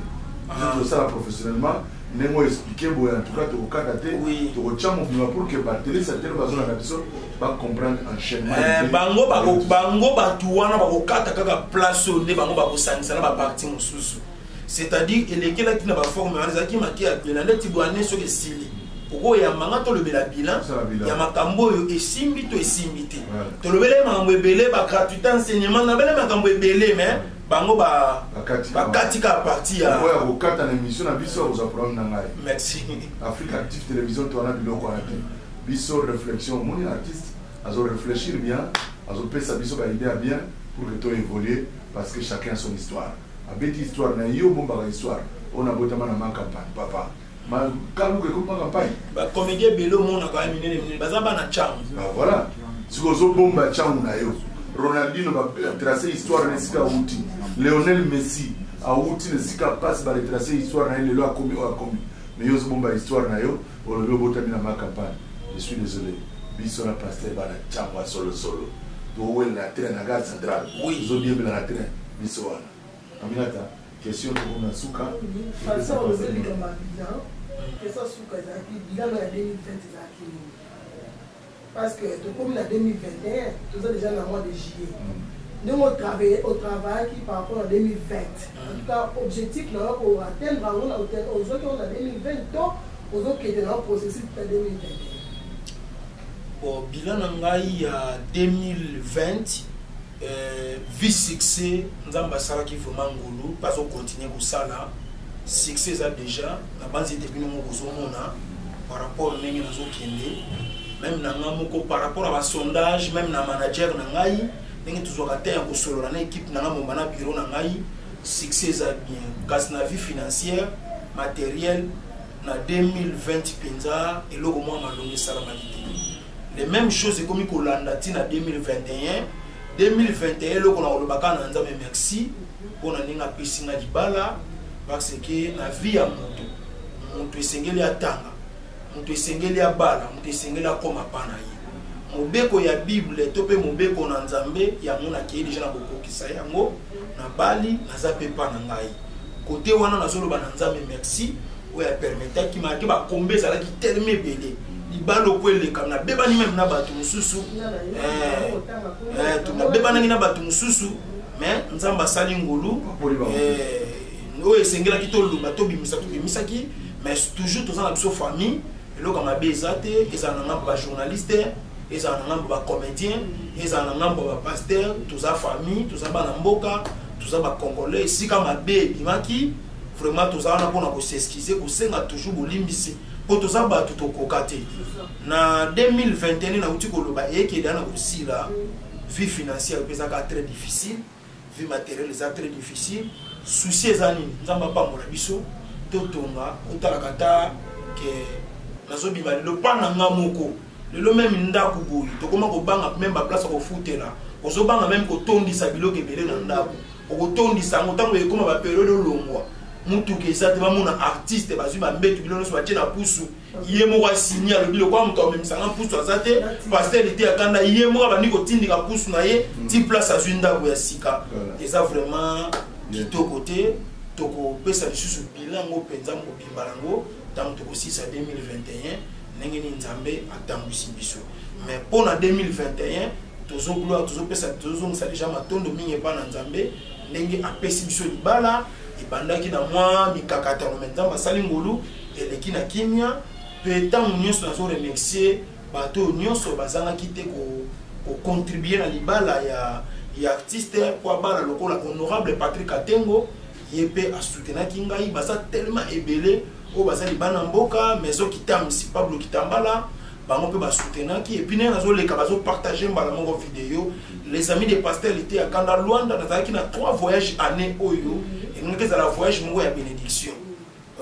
S2: Biso tosala ah. professionnellement ndenge oyo explike boye en tout cas tokokata te tokotia mobima
S4: pour
S2: que batelesi atele bazolanda biso bacomprendre enchaînement eh,
S4: bango bato wana bakokata kaka place oyo nde bango bakosangisa na baparti mosusu c'est-à-dire elekelaki na baforme wana ezalaki make ya bilan neti bwane soki esili okoyamba nga tolobela bilan ya makambo oyo esimbi to esimbi te tolobelai makambo ebele bagratuité enseignement nabele makambo ebele mais bango bakati ka parti ya oyo akokata na émission
S2: na biso akozwa problème na ngai merci afrique
S4: active
S2: télévision to wana biloko wana te biso réflexion omoni na artiste azo réfléchir bien azopesa biso baidée ya bien pour que to évoluer parce que chacun a son histoire Abeti histoire na yo bombaka histoire oyo nabotama na ma campagne papa ma kaluka ekomi ma campagne ba comédien ebele
S4: omonaka ya minene minene baza bana changu ba ah, voilà
S2: sikoyo ozobomba changu na yo ronaldino batrace histoire na esika awuti leonel messi awuti na esika mpasi baretrace histoire na ye lelo akomi oyo akomi mais yo ozobomba histoire na yo olobi obotami na ma campagne je suis désolé biso na paster bana changu ya solosolo towela na train na gare centrale ozodiembela na
S4: train
S2: biso wana aminata question toko na suka façon
S3: ozolika ma bilan question suka ezalaki bilan ya 2020 ezalaki nini parce que tokomi na 2021 toza déjà na mois de juillet ndenge otravaille otravaillaki par rapport na 2020 en tout cas objectif na yo koatteindre yango na ozwaki yango na 2020 to ozokende na yo processus ta 2021
S4: bon bilan na ngai ya 2020 euh, vie succès nzambe asalaki vraiment ngulu bazo continuer kosala succès eza déjà nabanzi ete bino moko ozomona par rapport ndenge nazokende meme na ngai moko par rapport ya basondage meme na manager na ngai ndenge tozwaka te ya kosolola na ekipe na ngai momba na biro na ngai succès eza bien kasi na vie financière matériel na 2020 mpenza eloko mwa malongi esalamaki te le même chose ekomi kolanda ti na 2021 2021 eloko na koloba kaka na nzambe merci mpo na ndenge apesi nga libala parce que na vie ya moto moto esengeli atanga moto esengeli abala moto esengeli akoma pa na ye mobeko ya bible to mpe mobeko na nzambe yango nakei deja na kokokisa yango nabali naza mpe pa na ngai kote wana nazoloba na nzambe merci oyo apermetaki malgre bakombe ezalaki teleme ebele libalo po elekam nabebani meme na bato mosusu eh, eh, nabebanaki na bato mosusu mais nzambe asali ngolu eh, oyo esengelaki toloba tobimisa tobimisaki mais toujours toza na biso famille eloko mabe eza te ezala na ngambo bajournaliste ezala na ngambo bacomédien ezala na ngambo bapaster toza famille toza bana mboka toza bacongolais esika mabe ebimaki vraiment toza wana mpona koseskize kosenga toujours bolimbisi mpo toza bato tokoka te na 2021 nauti koloba eyekeli ana kosila vie financière mpe ezaka très difficile vie matériel eza très difficile souci eza nini nzambe apambola biso totonga otalaka ata ke nazobima lelo mpa na nga moko lelo meme ndako boye tokoma kobanga meme baplace ya kofutela ozobanga meme kotondisa biloko ebele na ndako okotondisa yango ntango ekoma baperiode olongwa motuka eza te bamona artiste bazwi bambetu bino nyonso batye na pusu ye moko asini alobi lokola moto amemisanga pusu aza te paster ete akanda ye moko abandi kotindika pusu na ye ti mm. place azwi ndako ya sika eza vraiment kitoko te tokopesa lisusu bilan yango mpenza mobimba yango ntango tokosilisa 2021 ndenge nini nzambe atambwisi biso mais mpo na 2021 tozo gloire tozopesa tozozongisa deja matondo mingi epai na nzambe ndenge apesi biso libala ebandaki na mwa mikakatano me nzambe asali ngolu eleki na kimia mpe ntango nyonso nazo remercier bato oyo nyonso bazangaki te kocontribue na libala ya, ya artiste mpo abala lokola honorable patrick atengo ye mpe asutenaki ngai baza telema ebele oyo baza libana mboka maison kitamisi pablo kitambala bango mpe basutenaki epuis ndenge nazoleka bazopartage mbala moko video les amis de pasteur lite ya kanda luanda nazalaki na trois voyage année oyo elingaki ezala voyage moko ya bénédiction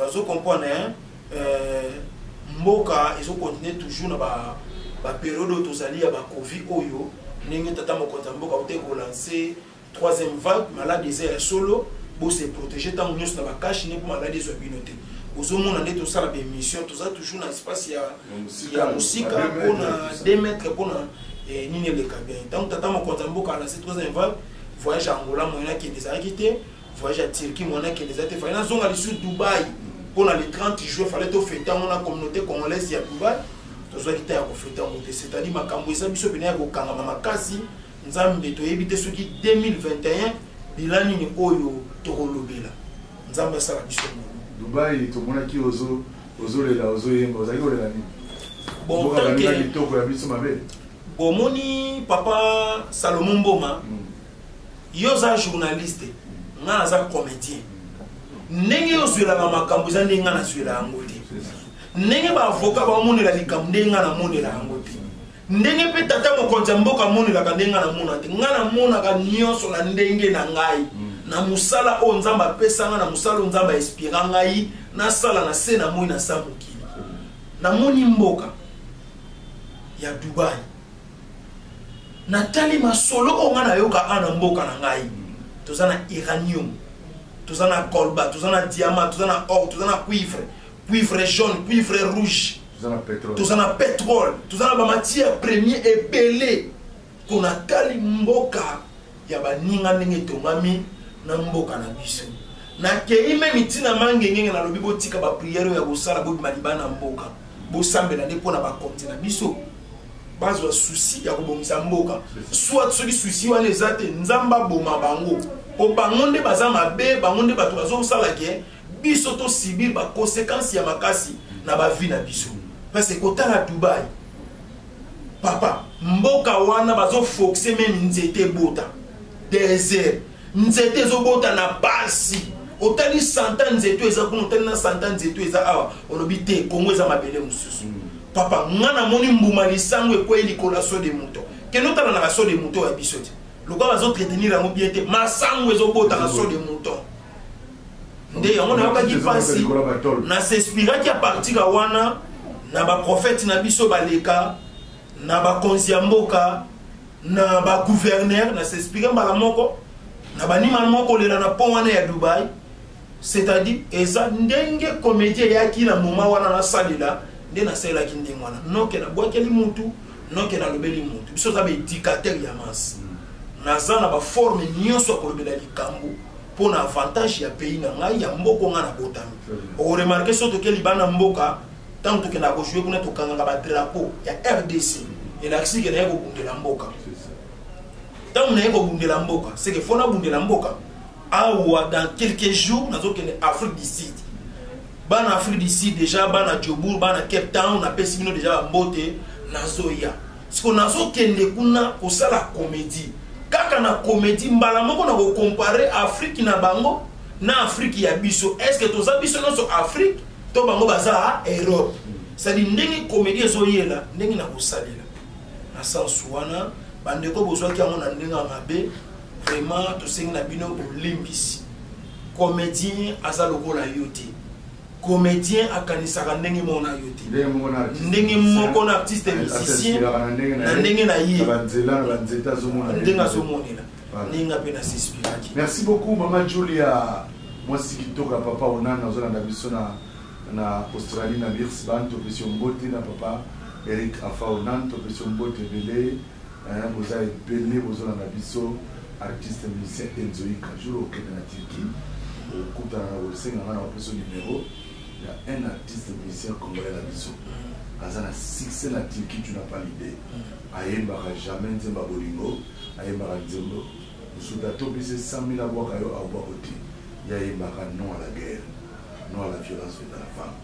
S4: ozo comprendre hein? Euh, mboka ezokontinue toujours na baperiode oyo tozali ya bacovi oyo ndenge tata mokonzi ya mboka autaki kolanse troisième vague malade eza ya solo bose protege ntango nyonso na bakashi ne mpo maladi ezwa bino te bozomona nde tosala baémission toza toujours na espace ya, ya mosika mpo na 2 mètre mpo na eh, nini eleka bien ntango tata mokonzi ya mboka alase troisième vague voyage ya angola moyen akende ezalaki te voyage ya turquie moyen akende eza te fale nazonga lisusu dubai mpo na le 30 juin fale tofete yango na communauté congolaise ya dubai tozwaki ta ya kofete yango te c'est à dire makambo eza biso mpena ya kokangama makasi nzambe toyebi te soki 2021 bila nini oyo tokolobela nzambe asala biso mono dubai
S2: tomonaki ozo ozolela ozoyemba ozali kolela nini
S4: kitoko ya biso mabe
S2: bomoni
S4: papa salomo mboma hmm. yo oza journaliste ngai naza comédien ndenge yo ozwelaka makambo eza ndenge ngai nazwela yango te ndenge baavoka bamonela likambo ndenge ngai namonela yango te ndenge mpe tata mokonzi ya mboka amonelaka ndenge ngai namona te ngai namonaka nyonso na ndenge na ngai mm. na mosala oyo nzambe apesa ngai na mosala oyo nzambe ainspira ngai nasala na se na moi na sa mokili namoni mboka ya dubai natali masolo oyo ngai nayoka a na mboka na ngai toza na iranium toza na colba toza na diamant toza na or toza na cuivre cuivre jaune cuivre rouge toza na petrole toza na bamatière premier ebele mpo natali mboka ya baninga ndenge etongami na mboka na biso nakei me mitina mangengenge nalobi botika bapriere oyo ya kosala bobima liba na mboka bosambela nde mpo na bakonzi na biso bazwa susi ya kobongisa mboka soit soki susi wana eza te nzambe aboma bango mpo bango nde baza mabe bango nde bato bazosala ke biso to subir ba consequences ya makasi na ba vie na biso parce que kotala Dubaï papa mboka wana bazo foxe meme nzete ebota desert nzete ezobota na pasi otali santa nzete eza kuna otali na santa nzete eza awa olobi te kongo eza mabele mosusu mm. papa nga namoni mbuma lisango ekwei likolo ya so de moto kende otala na baso de moto ya biso te lokola bazontretenir yango bien te masango ezobota na so de moto nde yango nayokaki mpasi na s'inspiraki apartir ya wana na baprofete na biso baleka na bakonzi ya mboka na baguverner na s'inspire mbala moko na banima moko kolela na pont wana ya dubai c'est-à-dire eza ndenge komedi eyaki na moma wana nasalela nde nasalelaki ndenge wana noke nabwakeli mutu noke nalobeli mutu biso oza baedikatere ya masi naza na baforme nyonso ya kolobela likambo mpo na avantage ya pays na ngai ya mboko ngai nabotami okoremarke so toke libanda mboka ntango tokendaka kojue kuna tokangaka badrapo ya rdc elakisi ke naye kobundela mboka ntango naye kobundela mboka seke fo nabundela mboka awa dans quelques jours nazokende afrique du sud bana afrique du sud déjà bana jobour bana cape town napesi bino déjà bambote nazoya siko nazokende kuna kosala komedi kaka na komedi mbala moko na kokompare afriki na bango na afriki ya biso estce toza biso nyonso afriki to bango baza europe sadi ndenge komedi ezoyela ndenge na kosalela na sense wana bandeko bozwaki yango na ndenge ya mabe vraiment tosengi na bino bolimbisi comédien aza lokola yo te comedien akanisaka ndenge moko na yo te ndenge moko na artiste musicien na ndenge na ye ndenge azomonela ndenge nga mpe nasispiraki merci beaucoup mama
S2: julia mwasi kitoka papa onana ozolanda biso na na australie na birsban topesi yo mbote na papa eric afa onan topesi yo mbote ebele Hein, boza ebele bozolanda biso artiste musicien enzoika jour okende na turquie okutana na kosenga ngai na bapeso numero ya un artiste musicien congolais na biso aza na succès na turquie tu n'as pas l'idée ayembaka jamais nzemba bolingo ayembaka nzembo mosutu atopisi 100 000 abwaka yo abwako te ye ayembaka non à la guerre non à la violence faite à la femme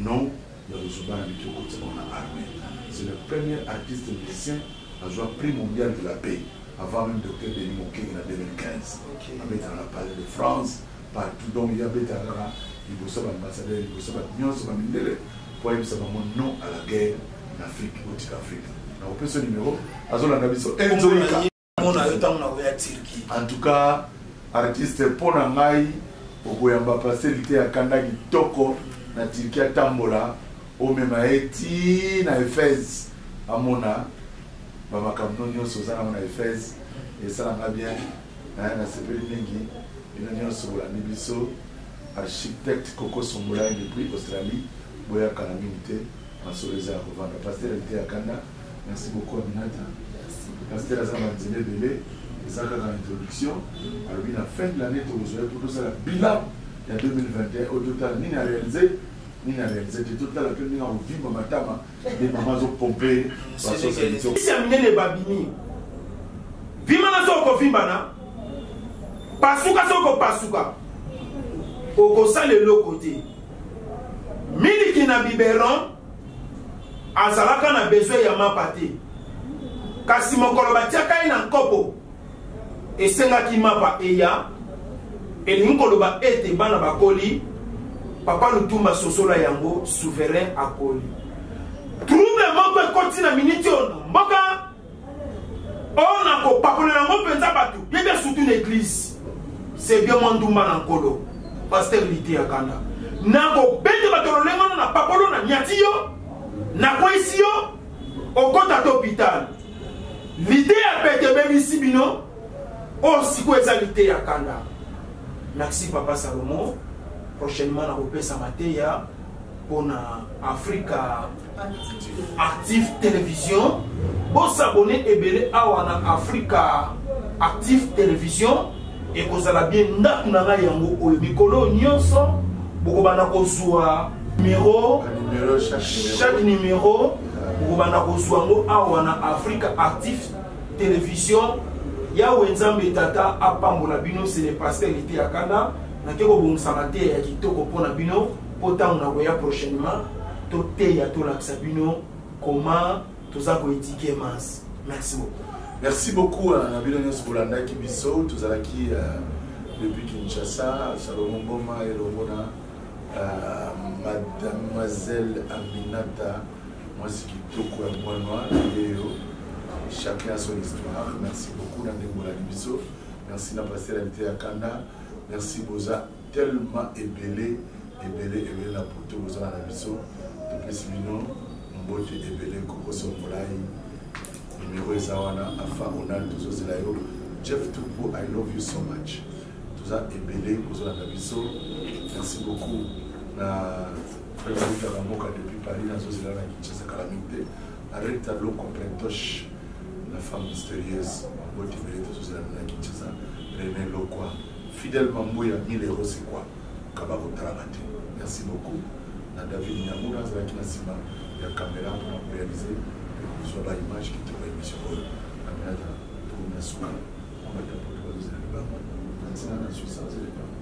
S2: non ya buzoba na mike okotisa bango na armee c'est le premier artiste musicien azwa prix mondial de la paix avant même docteur denis mokenge na 2015 abetaka na palais de france partout donc ye abetaka kaka liboso baambassadeur liboso bato nyonso bamindele mpo ayebisa bango non à la guerre na afrique botika afrique nakopesa numero azolanda biso enzoika mona yo ntango nakoya turki en tout cas artiste mpo na ngai okoyamba pase lite ya kanda kitoko na turki atambola omema ye ti na ephèse amona bamakambo no nyonso oza nango na ephèse esalanga bien nasepeli mingi bino nyonso bolandi biso architecte koko songolai depuis australie boyaka na mingi te masolo eza ya kovanda paster lite ya kanda Merci beaucoup Aminata. Pasteur aza na nzela ebele eza kaka introduction alobi na fin de l'année tokozwa ye mpo tosala bilan ya 2021 oyo totala nini arealize nini arealize te totala mpe ndenge akovimba matama nde mama azopompe basosaliya minene babimi vimana so okovimbana pasuka so okopasuka okosala eloko te miliki na biberon azalaka na besoin ya mapa te kasi mokolo batiaka ye na nkopo esengaki mapa eya elingi koloba ete bana bakoli papa lutumba sosola yango souverain akoli trouble moko ekoti na miniti oyo na mboka oyo na kopakolela yango mpenza bato ye bia sutu na eglize se bia mwa ndumba na nkolo paster lite ya kanda na kobete bato lolenge wana na papolo na nyati yo nakweyisi yo okota to hôpital lite ya pete ebebisi bino oyo oh, sikoyo eza lite ya kanda merci papa salomon prochainement nakopesa mateya mpo na afrika actif television bosabone ebele awa na afrika actif television ekozala bien ndako na ngai yango oyo mikolo oyo nyonso bokobanda kozwa numero chaque numero bokobanda kozwa yango awa na afrika actif television yawe nzambe tata apambola bino se le pasteur ete ya kanda nake kobongisa mateya ya kitoko mpo na bino mpo ntango nakoya prochainement toteya tolakisa bino comment toza koedike mas merci beaucoup merci beaucoup euh, na bino nyonso bolandaki biso tozalaki euh, depuis kinshasa salomo mboma elongo na euh, mademoiselle aminata mwasi kitoko ya mwanwa yeyo chacun a son histoire merci beaucoup na ndenge bolandi biso merci na pasteur alite ya kanda merci boza tellement ebele ebele ebele na poto bozala na biso topesi bino mbote ebele kokoso molai numero eza wana afa onal tozozela yo jeff tupo i love you so much toza ebele kozolanda biso merci beaucoup na fraiutaka mboka depuis paris nazozela na kinshasa kala mingi te areta loko plentoche la femme mystérieuse mbote ebele tozozela na kinshasa rene lokwa Fidel Mambuya 1000 euros c'est quoi kaba kotalaka te merci beaucoup na David Nyamura azalaki na nsima ya kamera mpo na korealize mpe kozwa ba image kitoko ya émission oyo kamerata tokomi na suka mabatapotokozela libango na ntina na suisa ozela libango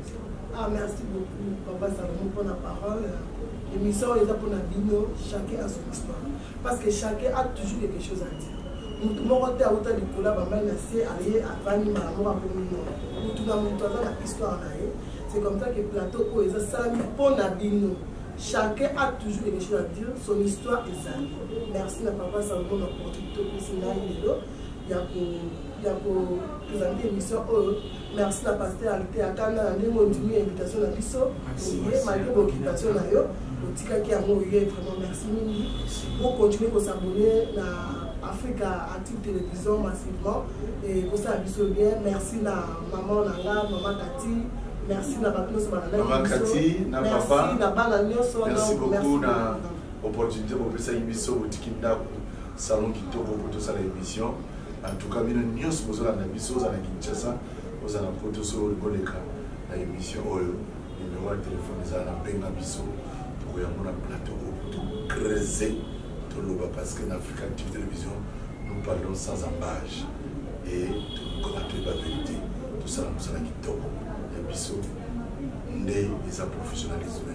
S3: Ah, merci beaucoup, Papa Salomon, pour la parole. L'émission est là pour la bino, chacun a son histoire. parce que chacun a toujours quelque chose à dire motu moko te auta likolo ya bamai na se aye avandi mbala moko akomi no motu na motu aza na histoire na ye c'est comme ça que plateau oyo eza salami mpo na bino chacun a toujours quelque chose à dire son histoire ezali merci na papa sango na porte topesi ngai lelo ya ko ya ko présenter émission oyo merci na pasteur alite akanda na ndenge ondimi invitation na biso oye malgré bokitation na yo otikaki yango oye vraiment merci mingi bocontinue kosabone na africa active télévision massivement ekosala biso bien merci na maman na nga maman kati merci na bato nyonso balandaki biso
S2: merci na bana nyonso merci beaucoup na opportunite bopesaki biso botiki ndako salon kitoko mpo tosala émission en tout cas bino nyonso bozolanda biso oza na kinshasa oza na poto so boleka na émission oyo numero ya telefone ezala na benga biso tokoya mona plateau oyo po tocrese toloba parce que na africa active télévision nous parlons sans embage et tokoma toyeba vérité tosala mosala kitoko ya biso nde eza professionnalisme